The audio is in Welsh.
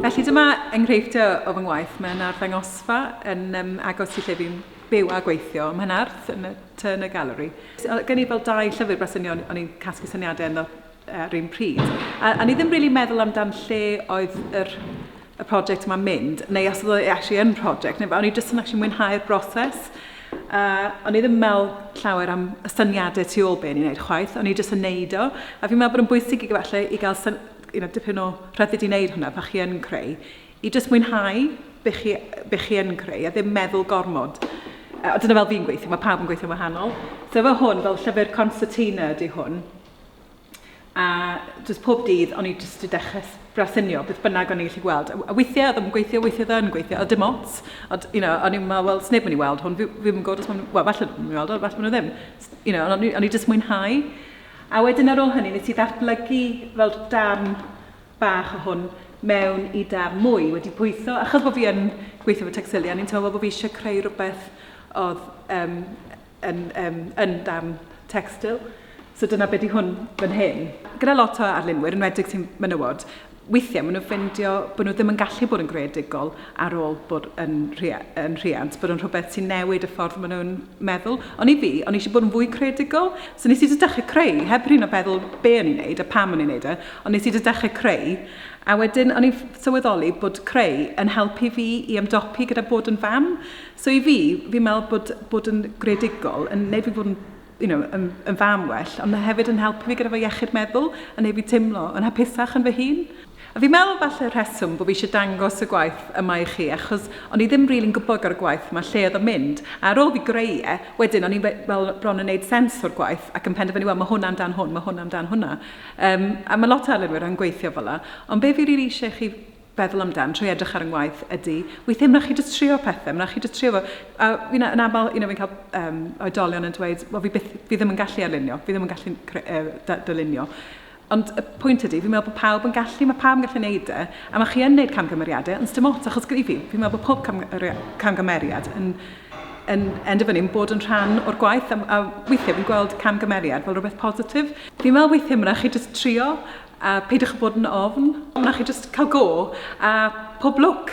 Felly dyma enghreifftiau o fy ngwaith. Mae yna arddangosfa yn um, agos i lle fi'n byw a gweithio ym Mhenarth yn y tŷ yn y galeri. Gen i fel dau llyfr bresynio o'n i'n casglu syniadau ynddo ar un pryd. A, a ni ddim really meddwl amdan lle oedd yr, y prosiect yma'n mynd, neu os oedd e actually yn prosiect, neu o'n i jyst yn actually mwynhau'r broses. Uh, o'n i ddim yn meddwl llawer am y syniadau tu ôl be ni'n gwneud chwaith, o'n i jyst yn neud o. A fi'n meddwl bod yn bwysig i gyfalle i gael syn, you know, dipyn o rhyddid i wneud hwnna pa chi yn creu. I jyst mwynhau be chi, be chi yn creu a ddim meddwl gormod. Uh, dyna fel fi'n gweithio, mae pawb yn gweithio'n wahanol. So fe hwn, fel llyfr concertina ydy hwn, A jyst pob dydd, o'n i jyst 'di dechrau s- brasynio beth bynnag o'n i'n gallu gweld. A a weithiau oedd e ddim yn gweithio, weithiau oedd e yn gweithio, a dim ots. Ond, you know, o'n i'n meddwl, wel, 's neb yn mynd i weld hwn, fi fi ddim yn gwybod os maen nhw... wel, falle bod nhw'n mynd i weld o, falle bod nhw ddim. S- you know, ond o'n i o'n i jyst mwynhau. A wedyn ar ôl hynny, wnes i ddatblygu fel darn bach o hwn mewn i darn mwy, wedi pwytho. Achos bo' fi yn gweithio efo Tecstilia, o'n i'n teimlo fel bo' fi isie creu rywbeth oedd yym yn um, yn darn textil. So dyna beth i hwn fan hyn. Gyda lot o arlunwyr, yn wedig sy'n menywod, weithiau maen nhw'n ffeindio bod nhw ddim yn gallu bod yn greadigol ar ôl bod yn, rhia, yn rhiant, bod yn rhywbeth sy'n newid y ffordd maen nhw'n meddwl. Ond i fi, o'n eisiau bod yn fwy creadigol, so nes i dy dechrau creu, heb rhywun o feddwl be o'n i'n neud a pam o'n i'n neud e, ond nes i dy dechrau creu. A wedyn, o'n i'n sylweddoli bod creu yn helpu fi i ymdopi gyda bod yn fam. So i fi, fi'n meddwl bod bod yn greadigol yn wneud fi fod yn you know, yn, yn fam well, ond mae hefyd yn helpu fi gyda fy iechyd meddwl, yn gwneud fi teimlo yn hapusach yn fy hun. A fi'n meddwl falle rheswm bod fi eisiau dangos y gwaith yma i chi, achos o'n i ddim rili'n gwybod gyda'r gwaith yma lle oedd o'n mynd, a ar ôl fi greu e, wedyn o'n i fel bron yn gwneud sens o'r gwaith ac yn penderfynu, wel, mae hwn amdan hwn, mae hwn amdan hwnna. Um, a mae lot o arlunwyr yn gweithio fel yna. Ond be fi rili eisiau chi feddwl amdan, trwy edrych ar 'y ngwaith, ydy, weithiau ma' 'na chi jyst trio pethe, ma' 'na chi jyst trio fo. A you know yn aml, you know fi'n cael um, oedolion yn dweud, wel fi, byth, fi ddim yn gallu arlunio, fi ddim yn gallu uh, dylunio. Ond y pwynt ydy, fi'n meddwl bod pawb yn gallu, mae pawb yn gallu gwneud e, a mae chi yn gwneud camgymeriadau, ond dim ots, achos gyda fi, fi'n meddwl bod pob camgymeriad yn, yn endefynu, yn bod yn rhan o'r gwaith, a, a weithiau fi'n gweld camgymeriad fel rhywbeth positif. Fi'n meddwl weithiau mae'n chi jyst trio, A peidiwch a bod yn ofn. Wna chi jyst cael go, a pob lwc!